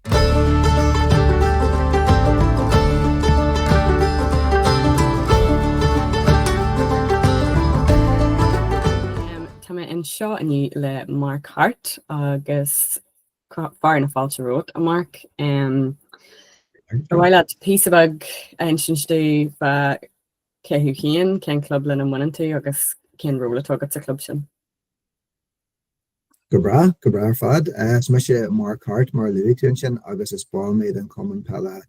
Tá mé anseo inniu le Mark Harte agus fearadh na fáilte romhat, a Mark. Ar mhaith leat píosa beag a insint dúinn faoi cé thú féin, cén club lena mbaineann tú agus cén ról atá agat sa chlub sin? Go breá, go breá ar fad. Is mise Mark Harte, mar a luaigh tú ansin, agus is ball mé den Chumann Peile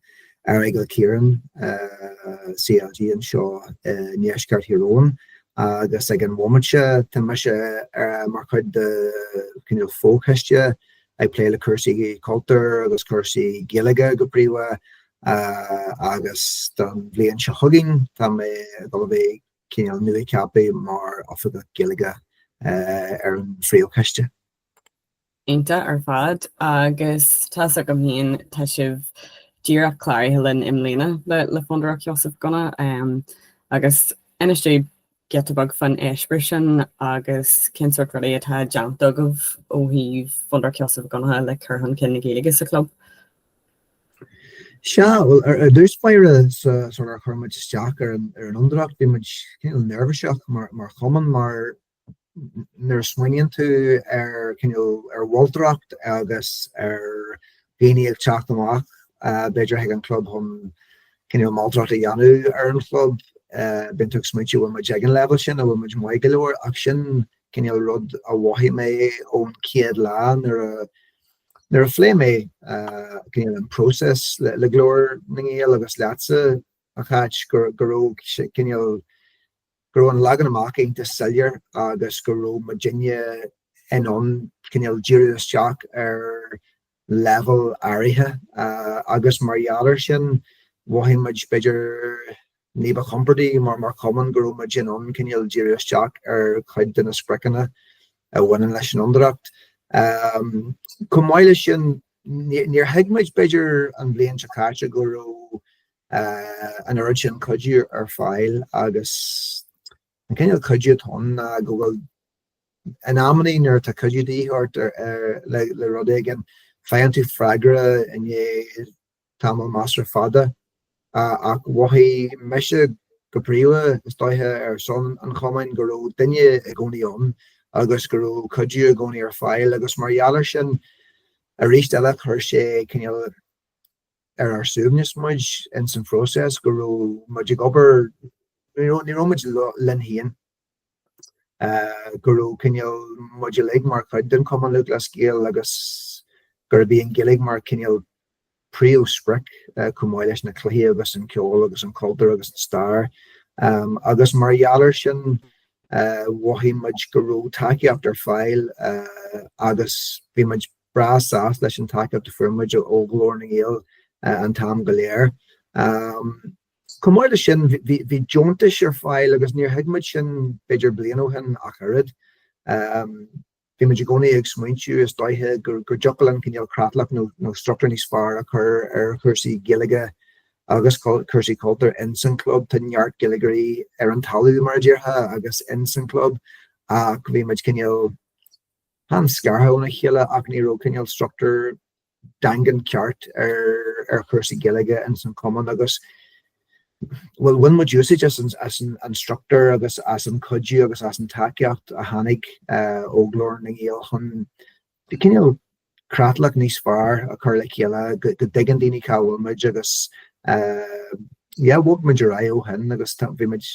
Aireagal Chiaráin, CLG, anseo i ndeisceart Thír Eoghain agus ag an bhomaite seo tá mise mar chuid de chineál fo-choiste ag plé le cúrsaí cultúir agus cúrsaí Gaeilge go príomha agus don bhliain seo chugainn tá mé ag gabháil a bheith cineál nuacheaptha mar Oifigeach Gaeilge ar an phríomhchoiste. Iontach ar fad. Agus tá's agam féin, tá sibh díreach cláraithe linn i mbliana le Fondúireacht Sheosaimh Mhic Dhonncha agus inis dúinn giota beag faoin eispéireas sin agus cén sórt rudaí atá déanta agaibh ó thaobh Fondúireacht Sheosaimh Mhic Dhonncha le cur chun cinn na Gaeilge sa chlub. Sea, bhuel, ar dtús báire, sular chuir muid isteach ar an Fhondúireacht, bhí muid cineál neirbhíseach mar chumann, mar nuair a smaoiníonn tú ar cineál ar mholtóireacht agus ar dhaoine ag teacht amach b'fhéidir chuig an chlub chun cineál moltóireacht a dhéanamh ar an chlub, bíonn tú ag smaointiú an bhfuil muid ag an leibhéal sin, an bhfuil muid maith go leor ach sin cineál rud a mhothaigh mé ón chéad lá nuair a Nuair a phléigh mé cineál an próiseas le Glór na nGael agus leatsa, a Cháit, go raibh cineál go raibh an leagan amach iontach soiléir agus go raibh muidinne in ann cineál díriú isteach ar leibhéal áirithe agus mar gheall air sin mhothaigh muid b'fhéidir Ní ba chompordaí mar chumann go raibh muid in ann cineál díriú isteach ar chuid de na spriocanna a bhaineann leis an Fhondúireacht. Chomh maith leis sin, níor thuig muid, b'fhéidir, an bhliain seo caite go raibh an oiread sin cuidiú ar fáil agus an cineál cuidiú atá ann ná go bhfuil, in amannaí nuair atá cuidiú de dhíth ort le rud éigin, faigheann tú freagra i ndiaidh tamall measartha fada, ach mhothaigh mise go príomha, is dóiche, ar son an chumainn, go raibh duine i gcónaí ann agus go raibh cuidiú i gcónaí ar fáil agus mar gheall air sin arís eile chuir sé cineál ar ár suaimhneas muid in san phróiseas go raibh muid ag obair, ní raibh muid linn féin. go raibh cineál muid uilig mar chuid den Chumann Lúthchleas Gael agus gurb í an Ghaeilge mar cineál príomhsprioc chomh maith leis na cluichí agus an ceol agus an cultúr agus an stair. Agus mar gheall air sin mhothaigh muid go raibh tacaíocht ar fáil agus bhí muid breá sásta leis an tacaíocht a fuair muid ó Ghlór na nGael an t-am go léir. Chomh maith leis sin, bhí deontais ar fáil agus níor thuig muid sin b'fhéidir bliain ó shin ach oiread. Bhí muid i gcónaí ag smaointiú, is dóigh, go dtiocfadh linn cineál creatlach nó struchtúr níos fearr a chur ar chúrsaí Gaeilge agus cúrsaí cultúir ins an gclub. Tá neart Gaeilgeoirí ar an talamh, mar a déarfá, agus ins an gclub ach bhí muid cineál, chan scartha óna chéile ach ní raibh cineál struchtúr daingean ceart ar chúrsaí Gaeilge ins an Chumann agus bhuel bhain muid úsáid as an struchtúr agus as an cuidiú agus as an tacaíocht a tháinig ó Ghlór na nGael chun cineál creatlach níos fearr a chur le chéile go dtuigeann daoine cá bhfuil muid agus yeah bhog muid ar aghaidh ó shin agus bhí muid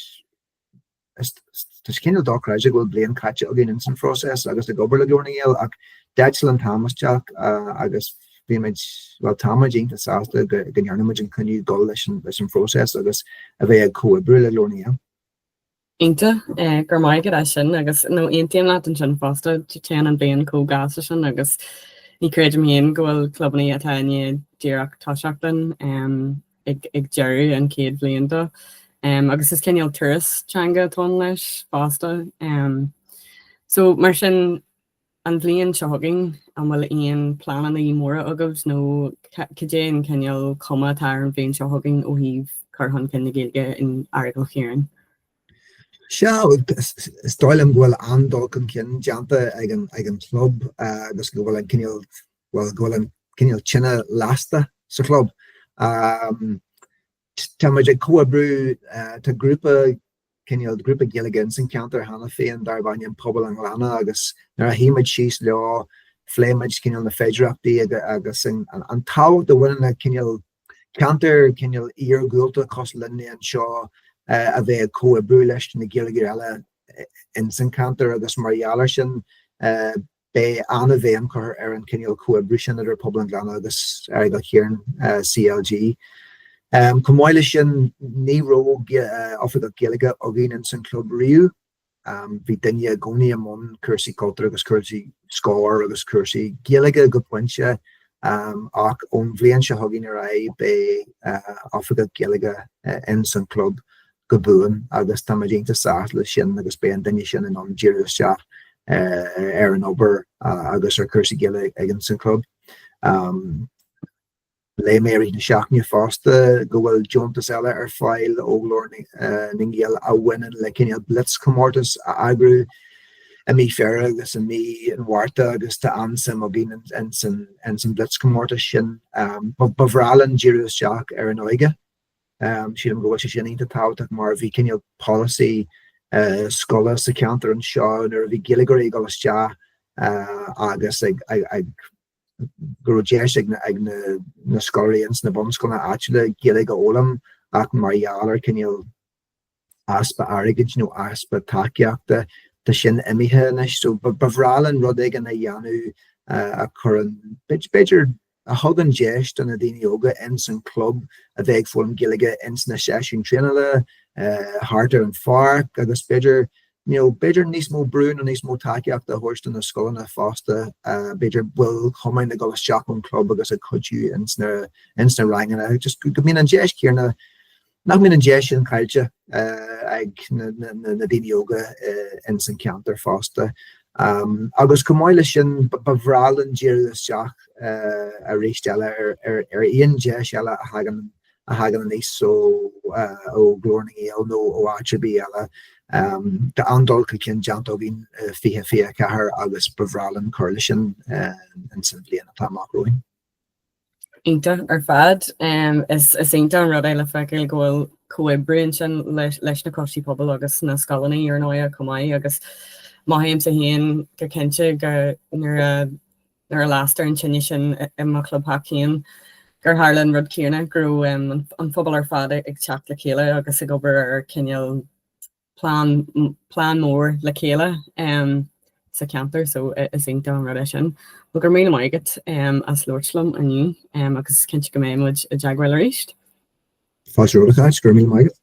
Tá sé cineál dochreidte go bhfuil bliain caite againn ins an phróiseas agus ag obair le Glór na nGael ach d'eitil an t-am isteach agus bhímid, bhuel táimid iontach sásta go ndearnaimid an cinneadh dul leis an phróiseas agus a bheith ag comhoibriú le Glór na nGael. Iontach, go raibh maith agat as sin agus nó aontaím leat ansin fosta, téann an bliain chomh gasta sin agus ní chreidim féin go bhfuil clubanna atá i ndiaidh díreach toiseacht linn ag deireadh an chéad bhliain daofa, agus is cineál turas teanga atá ann leis fosta. So, mar sin, an bhliain seo chugainn, an bhfuil aon pleananna móra agaibh nó cad é an cineál cuma atá ar an bhliain seo chugainn ó thaobh cur chun cinn na Gaeilge in Aireagal Chiaráin? Sea, is dóigh liom go bhfuil an-dul chun cinn déanta ag an chlub agus go bhfuil an cineál bhuel, go bhfuil an cineál tine lasta sa chlub. Tá muid ag comhoibriú, tá grúpa, cineál grúpa Gaeilge ins an ceantar cheana féin darb ainm Pobal an Ghleanna agus nuair a shuigh muid síos leo phléigh muid cineál na féidireachtaí agus an tábhacht a bhaineann le cineál ceantar cineál iargúlta cosúil linn anseo a bheith ag comhoibriú leis na Gaeilgeoirí eile ins an ceantar agus mar gheall ar sin Beidh an-bhéim curtha ar an cineál comhoibriú sin idir Pobal an Ghleanna agus Aireagal Chiaráin, CLG. Chomh maith leis sin, ní raibh oifigeach Gaeilge againn ins an club riamh. Bhí duine i gcónaí i mbun cúrsaí cultúir agus cúrsaí scóir agus cúrsaí Gaeilge go pointe ach ón bhliain seo chugainn ar aghaidh beidh oifigeach Gaeilge ins an club go buan agus tá muid iontach sásta leis sin agus beidh an duine sin in ann díriú isteach ar an obair agus ar chúrsaí Gaeilge sa chlub. Léigh mé arís na seachtaine fosta go bhfuil deontas eile ar fáil ó Ghlór na nGael a bhaineann le cineál blitzchomórtas a eagrú i mí Feabhra agus i mí an Mhárta agus tá an-suim againn ins an blitzchomórtas sin. Ba bhreá linn díriú isteach ar an óige Sílim go bhfuil sé sin iontach tábhachtach mar a bhí cineál polasaí scoile sa cheantar anseo nuair a bhí Gaeilgeoirí ag dul isteach agus go raibh deis ag na scoláirí ins na bunscoileanna áitiúla Gaeilge a fhoghlaim ach mar gheall ar cineál easpa airgid nó easpa tacaíochta, tá sin imithe anois so ba bhreá linn rud éigin a dhéanamh a chuireann, b'fhéidir, a thugann deis do na daoine óga ins an club a bheith ag foghlaim Gaeilge ins na seisiúin traenála, thart ar an pháirc agus b'fhéidir, you know, b'fhéidir níos mó brú nó níos mó tacaíochta a thabhairt do na scoileanna fosta, b'fhéidir baill chumainn ag dul isteach ón gclub agus ag cuidiú ins na ranganna, just go mbíonn an deis chéanna. nach mbíonn an deis sin caillte ag na daoine óga ins an ceantar fosta. Agus chomh maith le sin, ba bhreá linn díriú isteach arís eile ar aon deis eile a thagann a thagann aníos ó ó Ghlór na nGael nó ó áit ar bith eile. Tá an-dul chun cinn déanta againn i 2024 agus ba bhreá linn cur leis sin ins an bhliain atá amach romhainn. Iontach ar fad. Is iontach an rud é le feiceáil go bhfuil comhoibriú ansin leis na coistí pobail agus na scoileanna ar ndóighe chomh maith agus mothaímse féin go cinnte go nuair a nuair a lastar an tine sin i mo chlubtheach féin gur tharla an rud céanna, go raibh an pobal ar fad ag teacht le chéile agus ag obair ar chineál plean, plean mór le chéile em sa cheantar so is iontach an rud é sin. Bhuel go raibh míle maith agat em as labhairt liom inniu em agus cinnte go mbeidh muid i dteagmháil arís. Tá sé rud a go raibh míle maith agat.